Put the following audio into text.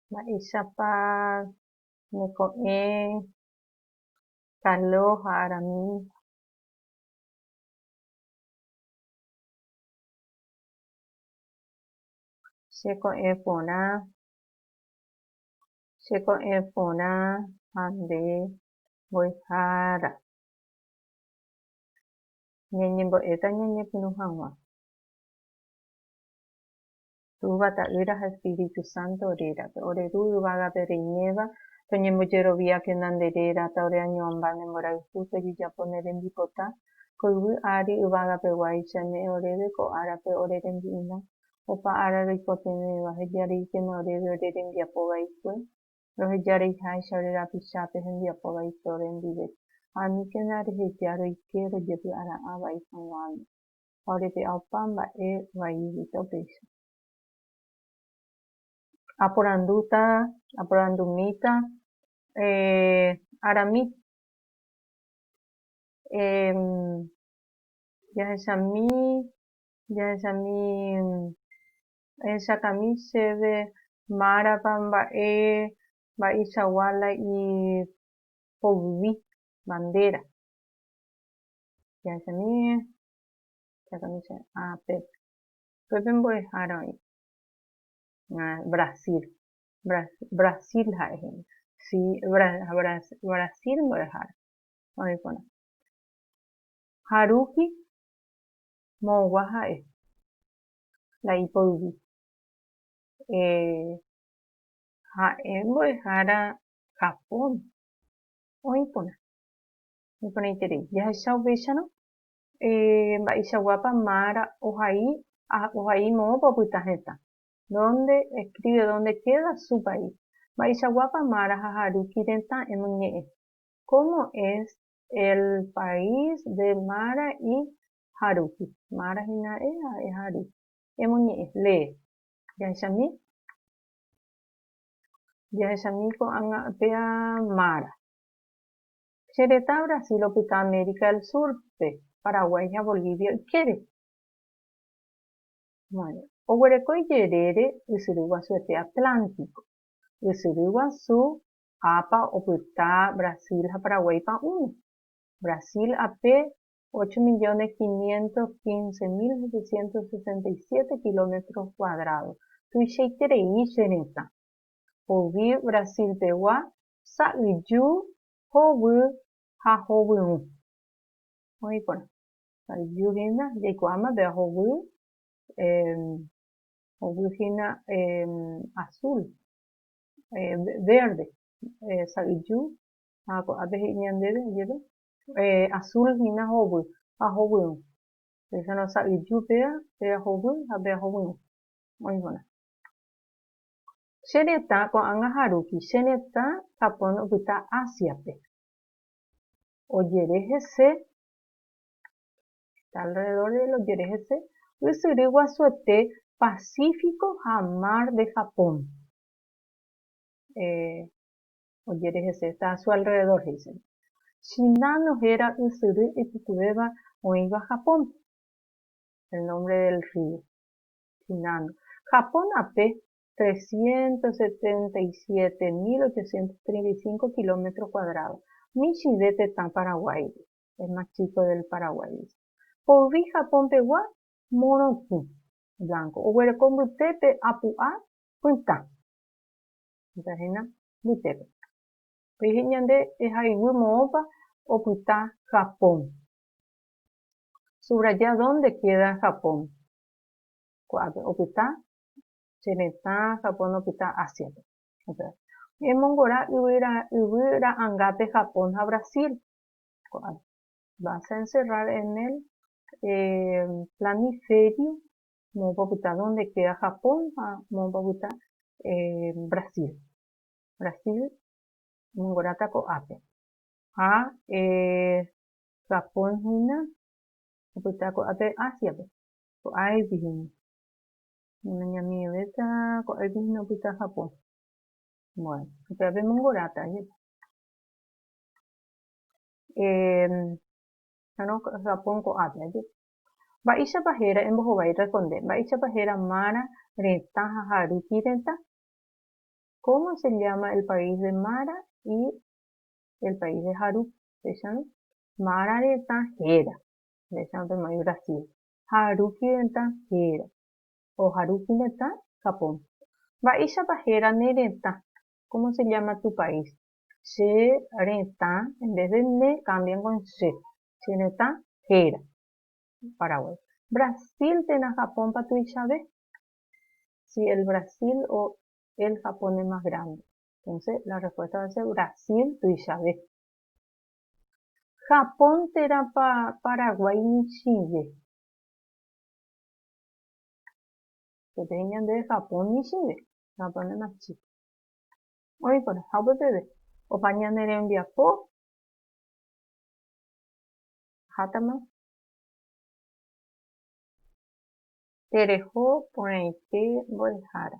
Mba'éichapa neko'ẽ Carlos ha Arami cheko'ẽ porã, cheko'ẽ porã ha nde mbo'ehára? Ñañembo'éta ñañepyrũ hag̃ua. Túva, Ta'ýra ha Espíritu Santo rérape. Ore Ru yvágape reiméva, toñembojeroviákena nde réra, ta ore añoamba ne mborayhu tojejapo ne rembipota, ko yvy ári yvágapeguáicha, ñe'ẽ oréve ko árape ore rembi'urã, opa ára roikotevẽva, hejareíkena oréve ore rembiapo vaikue, roheja reiháicha ore rapichápe hembiapo vai tórre ndive, ha aníkena reheja roike rojepy'ara'ã vai hag̃uáme. ha orepe'a opa mba'e vai ijeýta upéicha. Aporandúta, aporandumíta, eh, arami, eh, jahechami, jahechami, ehechakami chéve márapa mba'e mba'eichagua la i poyvi, bandéra. che asamíe, che asamíe che ápe. Upépe mbo'ehára oĩ Brasil, Brasil ha'e hína, si Brasil mbo'ehára oĩ porã. Ha rugby moõgua ha'e la ipoyvi. Ha'e mbo'ehára Japón oĩ porã. Iporãiterei, jahecha upéicharõ mba'eichaguápa Mara ohai ha ohai moõpa opyta hetã, dónde escribe dónde queda su país, mba'eichaguápa Mara ha Haruki retã emyñe'ẽ, cómo es el país de Mara y Haruki, Mara hína e ha e Haruki, emyñe'ẽ, lee. Jahechami, jahechami ko'ág̃a péa Mara. Che retã Brasil opyta América del Sur-pe, Paraguay ha Bolivia ykére. Bueno, oguereko ijerére ysyry guasuete Atlántico. Ysyry guasu Apa opyta Brasil ha Paraguay pa'ũme. Brasil ape, ocho millones quinientos quince mil setecientos sesenta y siete kilómetros cuadrados. Tuichaiterei che retã. Poyvi Brasil-pegua sa'yju, hovy ha hovyũ. Oĩ porã. Sa'yju hína jaikuaáma péva hovy, hovy hína azul, verde, sa'yju ha ko'ápe he'i ñandéve ajeve azul hína hovy ha hovyũ. Péichano sa'yju péva, péva hovy ha péva hovyũ. Oĩ porã. Che retã ko'ág̃a ha rupi, che retã Japón opyta Ásiape. Ojere hese, está alrededor del ojere hese, ysyry guasuete Pacífico ha Mar de Japón. Eh, ojere hese, está a su alrededor, he'íseva. Shinano héra ysyry ipytyvéva oĩva Japónpe. El nombre del río, Shinano. Japón ape, 377.835 kilómetro kuadrádo, michĩve tetã Paraguáigui, el más chico del Paraguay, dice. Poyvi Japón pegua morotĩ, blanco, oguereko mbytépe apu'a pytã. Pytã hína mbytépe. Peje ñande ehaygui moõpa opyta Japón. Subraya dónde queda Japón. Ko'ápe opyta che retã Japón opyta Ásiape. Ñemongora yvy ra'angápe Japón ha Brasil. Ko'ág̃a. Vas a encerrar en el planiferio moõpa opyta donde queda Japón ha moõpa opyta Brasil. Brasil omongoráta ko'ápe. Ha Japón hína opyta ko'ápe Ásiape. Ko'ág̃a ipyhína. Nañamivevéta ko'águi hína opyta Japón. Bueno, upéva pemongoráta jepa. Año Japón ko'ápe ajépa. Mba'éichapa héra, embohovái erresponde, mba'éichapa héra Mara retã ha Haruki retã? Cómo se llama el país de Mara y el país de Haruki? Péicharõ, Mara retã héra. Péicharõ pemoĩ Brasil. ha rupiretã héra. Ojarupi retã Japón. Mba'éichapa héra ne retã? Cómo se llama tu país? Che retã en vez de ne cambian con che. Che retã héra. Paraguay. Brasil térã Japónpa tuichave? Si el Brasil o el Japón es más grande. Entonces la respuesta va a ser Brasil tuichave. Japón térãpa Paraguái michĩve? Peteĩ ñande Japón michĩve, Japón es más chico. Oĩ porã, ha upe peve, opa ñane rembiapo hátama tereho porãite mbo'ehára.